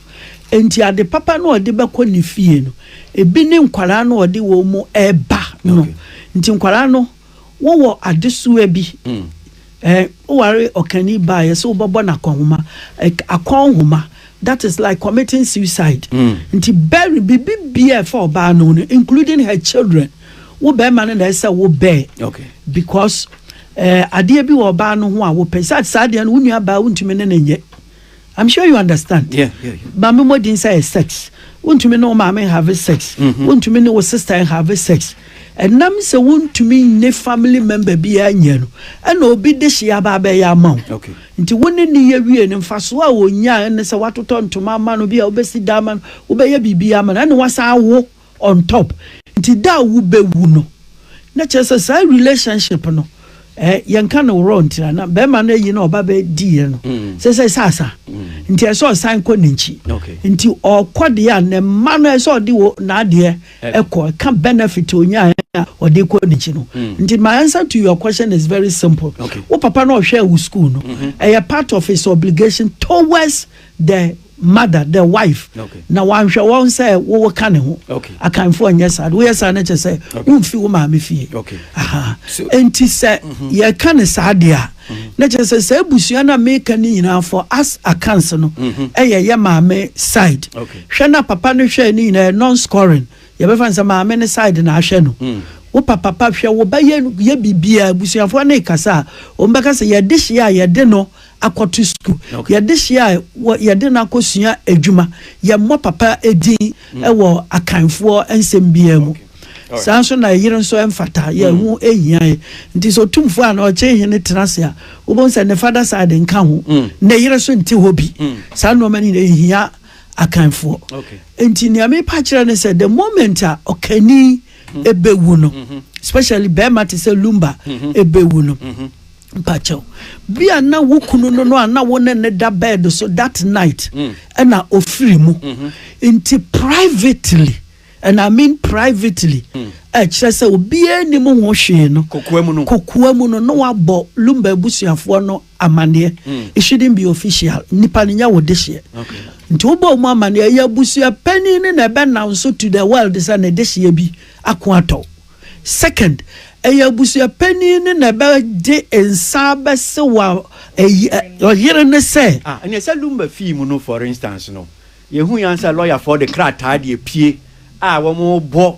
Enti ade papa no a ɔde bɛkɔ ne fie no, ebi ne nkwadaa no a ɔde wɔn mu reba no. Nti nkwadaa no, wowɔ adesoa bi. Mm. Eh, woware ɔkani baa yɛ sɛ wobɛbɔ no akɔnhoma. Eh, akɔnhoma. That is like committing suicide. Mm. Nti bury biribi biara ɛfa ɔbaa no no, including her children. Wo bɛrima no na ɛsɛ wo bɛɛ. Okay. Because eh, adeɛ bi wɔ ɔbaa no ho a wopɛ. Sɛ saa adeɛ no, wo nua baa wontumi ne ne nyɛ. I'm sure you understand. Yeah, yeah, yeah. Maame mmɔden sɛ yɛ sex. Wontumi ne wo maame nhave sex. Mm-hmm. Wontumi ne wo sister nhave sex. Ɛnam sɛ wontumi ne family member biara nyɛ no, ɛna obi de hyia aba abɛyɛ ama wo. Okay. Nti wo ne ne yɛ wie no mfasoɔ a wɔnya ne sɛ woatotɔ ntoma ama no bi a wobɛsi da ama no wobɛyɛ biribi ama no ɛne wasan awo On top nti da a wo bɛ wu no na kyerɛ sɛ saa relationship no eh yɛn ka no wrong nti na na bɛrima no ayi na ɔba bɛ di yɛ no mm. sɛ sɛ sɛ asa mm. nti ɛsɛ ɔsan kɔ n'akyi okay. nti ɔkɔ deɛ a ne mma no ɛsɛ ɔde wɔ n'adeɛ ɛkɔ ɛka benefit onyaa a ɔde kɔ n'akyi no mm. nti my answer to your question is very simple wo okay. papa no ɔhwɛ wo school no ɛyɛ mm-hmm. part of his obligation towards the mother the wife na wanhwɛ wɔn sɛ wowo ka ne ho akanfoɔ nyɛ saa de woyɛ saa no kyɛ sɛ womfi wo maame fie enti sɛ mhm. yɛka ne saa deɛ a mhm. na kyerɛ sɛ saa abusua no a meka no nyinaa fɔ as accounts no mhm. ɛyɛ yɛ maame side hwɛ na papa no hwɛ no nyinaa non scoring yɛbɛfa sɛ maame no side na ahwɛ no mm. wo papa pa hwɛ wo ba yɛ biribiaa abusuafoɔ ne kasa a wɔn bɛka sɛ yɛde hyeɛ a yɛde no akɔto sukuu. Yɛde hyia a, yɛde no akɔsua adwuma. Yɛmmɔ papa din wɔ Akanfoɔ nsɛm biara mu. Saa nso na ɛyere nso ɛmfata, yɛn ho hia yɛ. Nti sɛ Otumfoɔ anaa Ɔkyehene tena ase a, wobɛhu sɛ ne father side nka ho, ne yere nso nte hɔ bi. Saa nnoɔma no nyinaa ɛhia Akanfoɔ. Nti nea merepa akyerɛ ne sɛ, the moment a Ɔkanni, ɛbɛwu no especially bɛrima te sɛ lumba ɛbɛwu no mpakyɛw bi a na wo kunu no no a na wo ne ne da bed so that night ɛna ofiri mu nti privately and I mean privately ɛkyerɛ sɛ obiara nim ho hwee no kokoa mu no na wabɔ lumba abusuafoɔ no Amaneɛ it shouldn't be official nipa no nyɛ wo dehyeɛ nti wo bɔ ɔmo amaneɛ ɛyɛ abusua panin no na ɛbɛ now so to the world sɛ ne dehyeɛ bi ako atɔ second ɛyɛ abusua panin no na ɛbɛ gye nsa bɛ se wa ɛyi ɔyere no sɛ. Ah ɛneɛ sɛ lumba fii mu no for instance no yɛ hu yan sɛ lɔya foɔ de krataa deɛ pie a wɔn bɔ.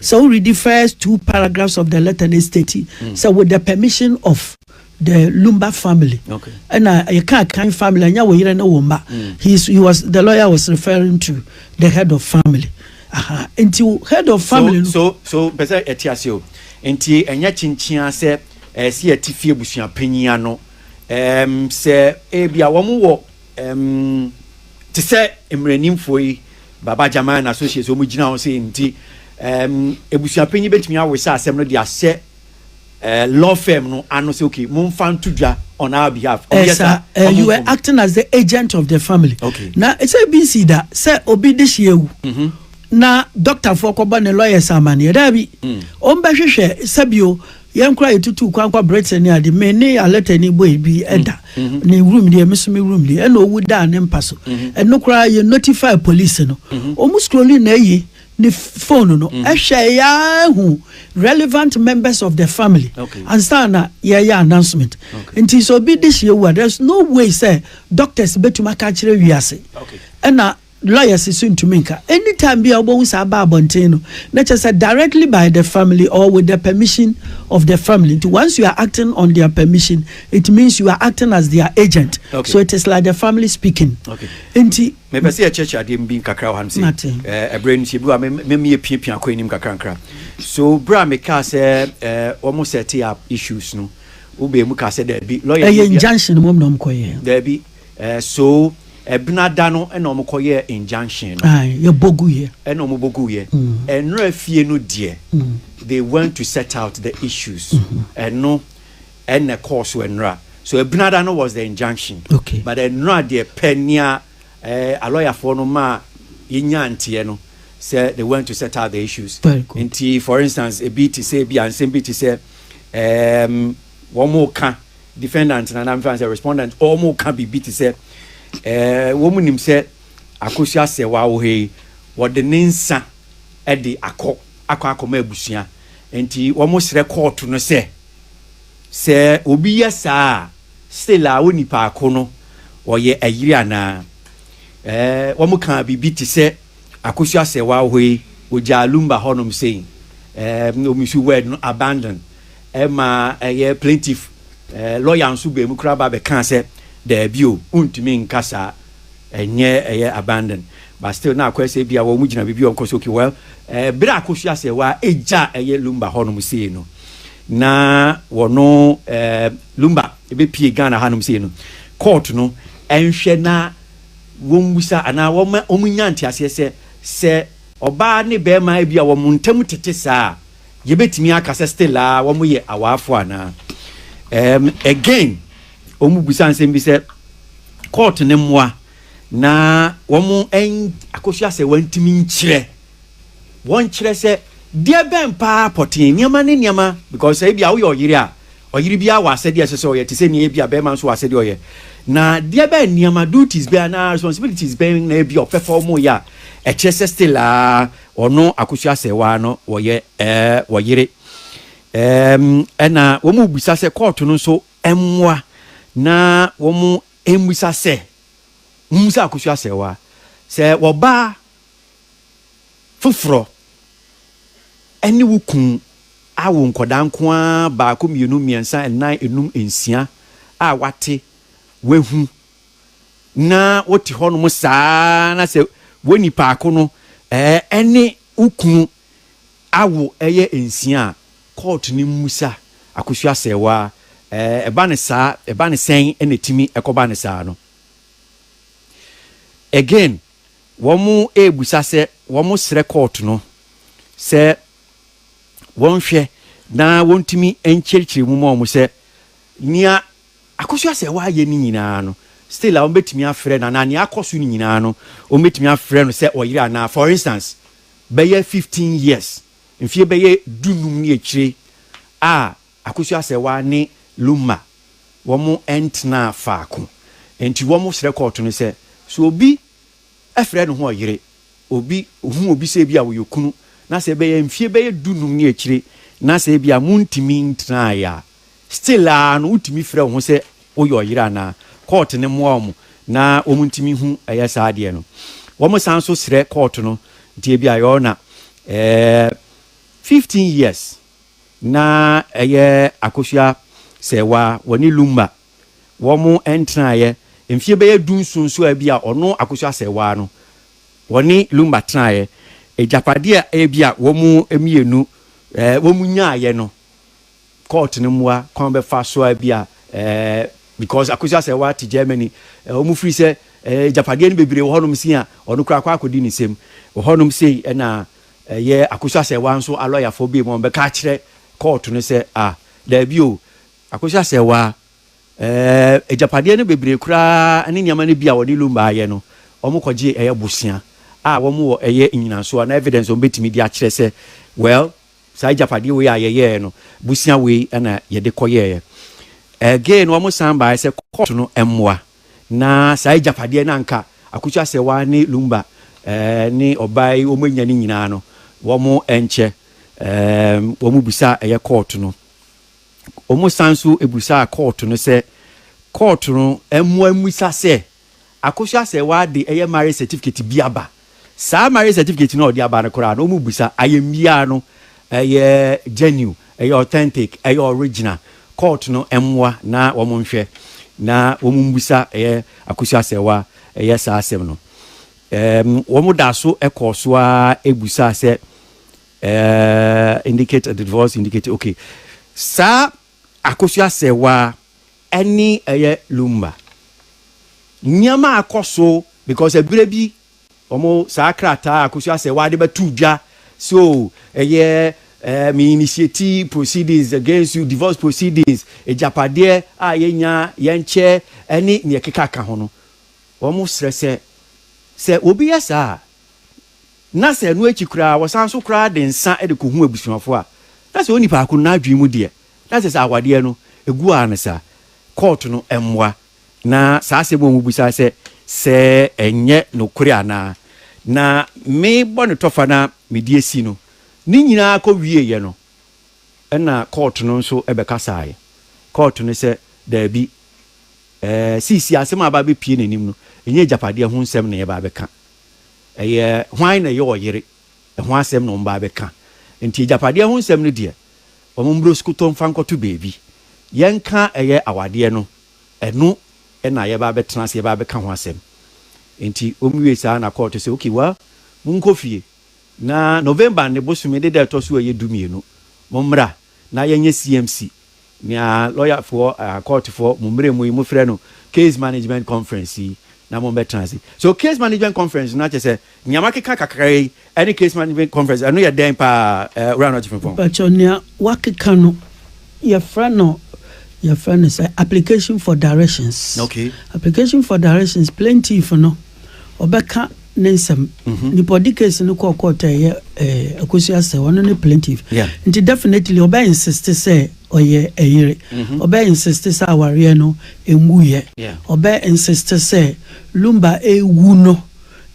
Sɛ wo read di first two paragraphs of the letter na state sɛ with the permission of the Lumba family ɛna yɛka kan family ɛnyɛ wo yere ne wo mma he is he was the lawyer was referring to the head of family aha nti head of family so so so pɛsɛ ɛte ase o nti ɛnyɛ kyenkyea sɛ ɛsi eh, ɛte fie abusua panyin ano ɛɛm sɛ ebi a wɔn wɔ ɛɛm te sɛ mmaranimfoɔ yi Baba Jama and Associates a wɔgyina hɔ sei nti, ɛɛm, abusuapanyin betumi awesa asɛm no de ahyɛ ɛɛ law firm no ano sɛ okay, momfa nto dwa on our behalf. Wɔyɛ Ɛsa, saa, eh, wɔn you were mfom. acting as the agent of the family. Okay. Na ɛsɛ bi nsi da sɛ obi de hye awu. Na dɔktafoɔ kɔbɔ ne lawyers amaneɛ. Daabi, wɔn bɛhwehwɛ sɛbio yɛn koraa yɛtutuu kwan kɔ britain ne ade me ne alɛta ni bɔe bi mm. ɛda mm-hmm. ne wurum deɛ me so me wurum deɛ ɛna ɔwu daa ne mpa so mm-hmm. ɛno koraa yɛ notify police no mm-hmm. ɔmu scrolling na ayi ne phone no ɛhwɛ yɛahu relevant members of the family ansa na yɛyɛ announcement nti sɛ obi de hyeɛ wu a there's no way sɛ doctors bɛtumi aka kyerɛ wiase ɛna Lawyers nso ntumi nka. Anytime bi a wobɛhu saa ba abɔnten no, na kyerɛ sɛ directly by the family or with the permission of the family. Nti once you are acting on their permission, it means you are acting as their agent. Okay. So it is like the family speaking. Okay. Nti. Mepɛ sɛ yɛkyerɛkyerɛ adeɛ bi nkakra wɔ ha no sɛ. Mate. Eh, ɛberɛ no sɛ bi wa mɛmi yɛpiapia kɔ anim kakrankra. So berɛ a mekaa sɛ eh, wɔn sɛte up issues no, wobɛɛ mu kaa sɛ daabi. Lawyer. Ɛyɛ injunction mom na wɔn kɔyɛ. Daabi. Eh so ɛbena da no ɛna ɔmo kɔ yɛɛ injunction no. Ae yɛ bɔ gu yɛ. Ɛna ɔmo bɔ gu yɛ. Ɛnora fie no deɛ they went to set out the issues ɛno ɛna ɛkɔɔ so ɛnora so ɛbena da no was the injunction but ɛnora deɛ pɛ nea eh alɔyafoɔ no maa yɛ nyaa nteɛ no sɛ they went to set out the issues nti for instance ebi te sɛ ebia nsɛm bi te sɛ eh wɔn mo ka Defendant no anaa memfa sɛ respondent wɔreka biribi te sɛ ɛɛ wɔnim sɛ Akosua Serwaa wɔ ha yi, wɔde ne nsa de akɔ akɔ akɔma abusua nti wɔsrɛ kɔɔto no sɛ, sɛ obi yɛ saa a still a onipaako no ɔyɛ ayiri anaa ɛɛ wɔkaa biribi te sɛ. Akosua sɛ w'ahɔ yi ogyaa lumba hɔ nom sei ɛɛm na ɔmisi word no abandon ɛma ɛyɛ plaintiff ɛɛ lawyer nso baa mu koraa ba bɛ kaa sɛ daabi o wontumi nka saa ɛnyɛ ɛyɛ abandon but still na akɔyɛ sɛ bia wɔn gyina biribi wɔn kɔ so okay well ɛɛ bere akosua sɛ wa egya ɛyɛ lumba hɔ nom sei no na wɔno ɛɛ lumba ebepie Ghana ha nom sei no court no ɛnhwɛ na wɔmmisa anaa wɔmma wɔnnya nteaseɛ sɛ, sɛ ɔbaa ne barima a ebia wɔn ntam tete saa a, yɛbɛtumi aka sɛ still ara wɔyɛ awaafoɔ anaa? Ɛɛm, again, wɔbisa nsɛm bi sɛ, court no mmoa na wɔn ɛn, akosua sɛ wɔntumi nkyerɛ. Wɔnkyerɛ sɛ deɛ bɛn paa pɔtee, nneɛma ne nneɛma, because sɛ ebia woyɛ ɔyere a, ɔyere biara wɔ asɛdeɛ a ɛsɛ sɛ ɔyɛ te sɛ nea ebia barima nso wɔ asɛdeɛ ɔyɛ. Na deɛ bɛn nneɛma, duties bɛn anaa responsibilities bɛn na ebia ɔpɛ fa wɔyɛ a ɛkyerɛ sɛ still ara ɔno Akosua Asɛewaa no wɔyɛ ɛɛ wɔyere. Ɛɛm ɛna wɔrebisa sɛ kɔɔto no nso mmoa na wɔmmisa sɛ, mommisa Akosua Asɛewaa sɛ wɔbaa foforɔ ne wo kunu awo nkwadaa nko ara baako, mmienu, mmiɛnsa, nnan, nnum, nsia a wate, wahu na wote hɔnom saa ara na sɛ wo nipaako no ne wo kunu awo yɛ nsia a, kɔɔto no mmusa Akosua Asɛɛwaa. Ɛba no saa, ɛba no sɛn na ɛtumi kɔba no saa no? Again. Wɔrebisa sɛ wɔsrɛ kɔɔto no sɛ wɔnhwɛ na wɔntumi nkyerɛkyerɛ mu ma wɔn sɛ nea Akosua-Sɛwaa yɛ no nyinaa no still a wɔbɛtumi afrɛ no anaa nea akɔ so no nyinaa no wɔbɛtumi afrɛ no sɛ ɔyere anaa. For instance, bɛyɛ fifteen years, mfeɛ bɛyɛ du-nnum ne akyire a Akosua-Asɛwa ne Lumma wɔn ntenaa faako nti wɔn srɛ kɔɔto no sɛ sɛ obi frɛ ne ho ɔyere, obi hu obi sɛ ebi a ɔyɛ okunu na sɛ ɛbɛyɛ mfie bɛyɛ du num ne akyire na sɛ ebi a montumi ntenaeɛ a still ara no wotumi frɛ wo ho sɛ woyɛ ɔyere anaa, kɔɔto no mmoa wɔn na wɔn ntumi hu ɛyɛ saa adeɛ no. Wɔn san nso srɛ kɔɔto no nti ebi a your na ɛɛ fifteen years Na ɛyɛ akosua sɛ wa wɔne Lumba wɔn ntenaeɛ mfeɛ bɛyɛ du nson so a bi a ɔno akosua sɛ wa no wɔne Lumba tenaeɛ agyapadeɛ a bi a wɔn mmienu wɔn nyaaeɛ no court no mmoa kwan bɛfa so a bi a because akosua sɛ wa te Germany wɔn firi sɛ agyapadeɛ no bebree wɔ hɔnom sei a ɔno koraa kɔ akɔdi ne nsam wɔ hɔnom sei ɛna Ɛyɛ Akosua-Sɛɛwaa nso alɔyafoɔ biem a wɔbɛka akyerɛ kɔɔto no sɛ, ah, daabi o, Akosua-Sɛɛwaa, ɛɛ, agyapadeɛ no bebree koraa ne nneɛma no bi a wɔde Lumba ayɛ no, wɔkɔgye ɛyɛ bosea a wɔn wɔ ɛyɛ nnyinasoɔ anaa evidence a wɔn bɛtumi de akyerɛ sɛ, well, saa agyapadeɛ wei a yɛyɛɛ no, bosea wei na yɛde kɔyɛeɛ. Again, wɔsan baeɛ sɛ kɔɔto no mmoa. Na saa agyapadeɛ no a anka Akutu Asɛwa ne Lumba ne ɔbaa yi wɔanya no nyinaa no, wɔankyɛ. Wɔbisaa ɛyɛ kɔɔto no. Wɔsan nso bisaa kɔɔto no sɛ kɔɔto no mmoa mmisa sɛ Akutu Asɛwa de ɛyɛ marriage certificate bi aba. Saa marriage certificate no a ɔde aba no koraa no, wɔmmisa. Ayamye ara no, ɛyɛ genuine, ɛyɛ authentic, ɛyɛ original. Court no mmoa na wɔnhwɛ na wɔmmisa ɛyɛ Akosua Asɛwa ɛyɛ saa asɛm no. Ɛɛm, wɔda so kɔɔ so ara busaa sɛ, ɛɛ, indicate the divorce, indicate, okay. Saa Akosua Asɛwa Ɛne ɛyɛ lumba. Nneɛma a ɛkɔ so because ɛberɛ bi wɔn saa krataa Akosua sɛ w'ade bɛto dwa so ɛyɛ ɛɛ me initiate proceedings against you divorce proceedings agyapadeɛ a yɛnya yɛnkyɛ ɛne nea ɛkeka ka ho no wɔn srɛ sɛ sɛ obi yɛ saa a na sɛ ɛno akyi koraa wɔsan so koraa de nsa de kɔhu abusuafoɔ a na sɛ onipa ko n'adwene mu deɛ Na sɛ saa awadeɛ no gu ara no saa, kɔɔto no mmoa na saa asɛm a wɔbisa sɛ sɛ ɛnyɛ nokorɛ anaa, na me bɔnetɔfa no a mede asi no, ne nyinaa kɔ wieeɛ no, ɛna kɔɔto no nso bɛkasaeɛ. Kɔɔto no sɛ, Daabi, seesei asɛm a aba abɛpue n'anim no, ɛnyɛ agyapadeɛ ho nsɛm na yɛreba abɛka. Ɛyɛ hwan na ɛyɛ ɔyere ɛho asɛm na wɔbaa bɛka. Enti agyapadeɛ ho nsɛm no deɛ, wɔmmrɛ osukutɔ mfa nkɔto baabi. Yɛnka ɛyɛ awadeɛ no, ɛno na yɛbaa bɛtena ase, yɛbaa bɛka ho asɛm. Enti wɔwiee saa na kɔɔto sɛ, okay, well, monkɔ fie, na November ne bosome ne da a ɛtɔ so a ɛyɛ du mmienu, mommra na yɛnyɛ CMC. Nea lɔyafoɔ, kɔɔtofoɔ, mo mmerɛ mu yi mofrɛ no case management conference yi na mommɛtena ase. So case management conference no akyɛ sɛ nea makeka kakra yi ne case management conference ɛno yɛ dɛn paa Owura Anoɔkye Frimpong? Mpakyɛw, nea wakeka no yɛfrɛ no yɛfrɛ no sɛ application for directions. Okay. Application for directions plaintiff no. ɔbɛka ne nsɛm mhm. nipa ɔde case no kɔɔ court a ɛyɛ eh, akosi asɛ ɔno ne plaintiff nti definitely ɔbɛ insist sɛ ɔyɛ ɛyere mhm. ɔbɛ insist sɛ awareɛ no ɛngu yɛ ɔbɛ insist sɛ lumba ɛwu no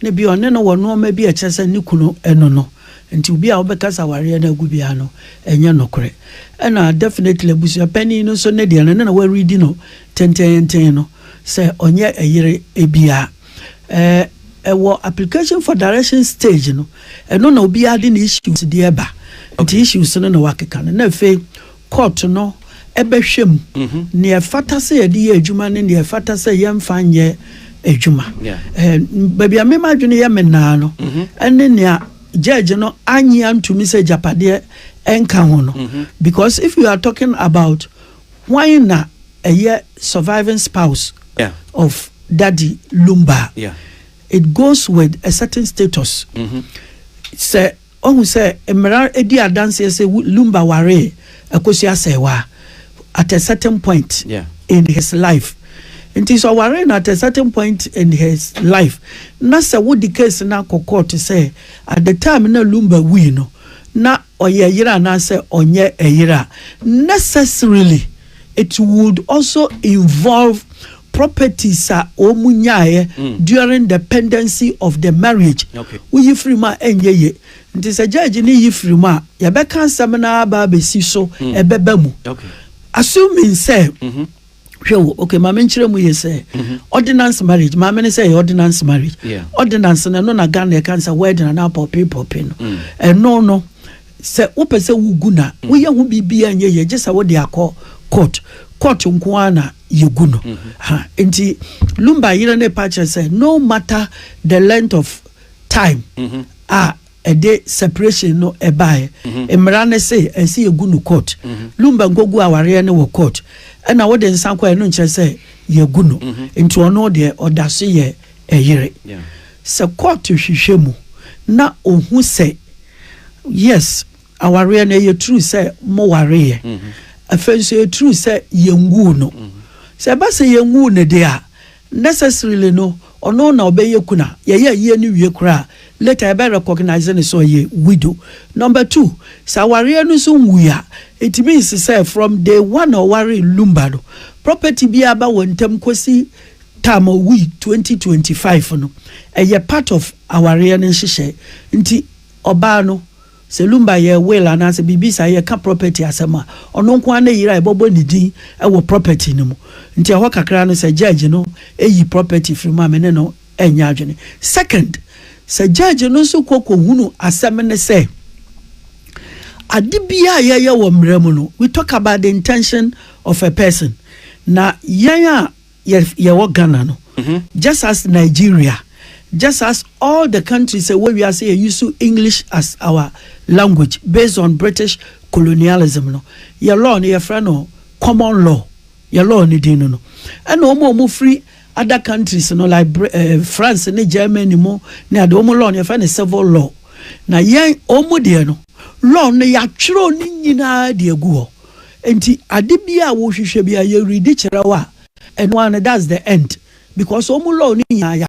ne bi ɔne no wɔ nneɛma bi ɛkyɛ sɛ ne kunu ɛno no nti obi a wobɛka sɛ awareɛ no agu biara no ɛnyɛ nokorɛ ɛna definitely abusua panin no nso ne deɛ no ne na wɔredi no Tenteenten no, sɛ ɔnyɛ ɛyere ebia ɛɛ ɛwɔ application for direction stage no, ɛno na obiara de ne issues deɛ ba. Nti issues no na wakeka no na afei court no ɛbɛhwɛ mu nea ɛfata sɛ yɛde yɛ adwuma ne nea ɛfata sɛ yɛmfa nyɛ adwuma. Ɛɛ baabi a me m'adwene yɛ me naa no ɛne nea judge no anyi antumi sɛ agyapadeɛ ɛnka ho no because if you are talking about Hwan na ɛyɛ surviving spouse of Daddy Lumba? It goes with a certain status. Sɛ wahu sɛ mmara di adanseɛ sɛ Lumba waree Akosua Asɛewa at a certain point in his life nti, sɛ ɔwaree no at a certain point in his life na sɛ wode case no akɔ court sɛ at the time na Lumba wui no na ɔyɛ yere anaasɛ ɔnyɛ ɛyere a, necessarily it would also involve properties a wɔn nyaeɛ during the pendency of the marriage. Okay. Woyi firi mu a ɛnyɛ yie. Nti sɛ judge no yi firi mu a, yɛbɛka asɛm no ara aba abɛsi so, ɛbɛba mu. Okay. Assuming sɛ hwɛ o okay maame nkyerɛ mu yɛ sɛ mm-hmm. ordinance marriage maame ne sɛ yɛ ordinance marriage yeah. ordinance no ɛno na ghana ɛka sɛ wedding anaa pɔpe pɔpe no mm. ɛno no sɛ wopɛ sɛ wogu na mm. woyɛ ho biribiaa nyɛ yɛ gye sɛ wode akɔ court court nko ara na yɛgu no mm-hmm. ha nti lumba yerɛ ne pa kyerɛ sɛ no matter the length of time mm-hmm. a ɛde separation no ɛbaeɛ mmara ne se ɛsɛ yɛgu no court Lumba nkɔgu awareɛ no wɔ court ɛna wode nsa kɔɛ no nkyerɛ sɛ yɛagu no nti ɔno deɛ ɔda so yɛ ɛyere sɛ court hwehwɛ mu na ɔhu sɛ yes awareɛ no ɛyɛ true sɛ mo wareeɛ afei nso ɛyɛ true sɛ yɛnguu no sɛ ɛba sɛ yɛnguu no deɛ a Necessarily no ɔno na ɔbɛyɛ kuna, yɛyɛ ayie no wie koraa a later yɛbɛ recognise no sɛ ɔyɛ widow. Number two, sɛ awareɛ no nso nwui a, it means sɛ from day one a ɔwaree Lumba no, property biara ba wɔn ntam kɔsi time a ɔwui twenty twenty five no, ɛyɛ part of awareɛ no nhyehyɛe. Nti ɔbaa no. Sɛ lumber yɛ will anaasɛ biribi saa, yɛka property asɛm a, ɔno nko ara ne yere a yɛbɛbɔ ne din wɔ property no mu. Nti ɛhɔ kakra no, sɛ judge no yi property firi mu a, me ne no nyɛ adwene. Second, sɛ judge no nso kɔ kɔhunu asɛm no sɛ, ade biara a yɛyɛ wɔ mmara mu no, we talk about the intention of a person, na yɛn a yɛ yɛwɔ Ghana no just as Nigeria just as all the countries ɛwɔ wiase yɛ use English as our language based on British colonialism no yɛ law no yɛfrɛ no common law yɛ law no din no no ɛna wɔn a wɔn firi other countries no like Br eh, France ne Germany mu ne ade wɔn law no yɛfrɛ no civil law na yɛn wɔn deɛ no law no yɛatwerɛ ne nyinaa de agu hɔ Enti ade biara a wohwehwɛ biara yɛredi kyerɛ wo a, ɛno ara no that's the end because wɔn law no nyinaa yɛ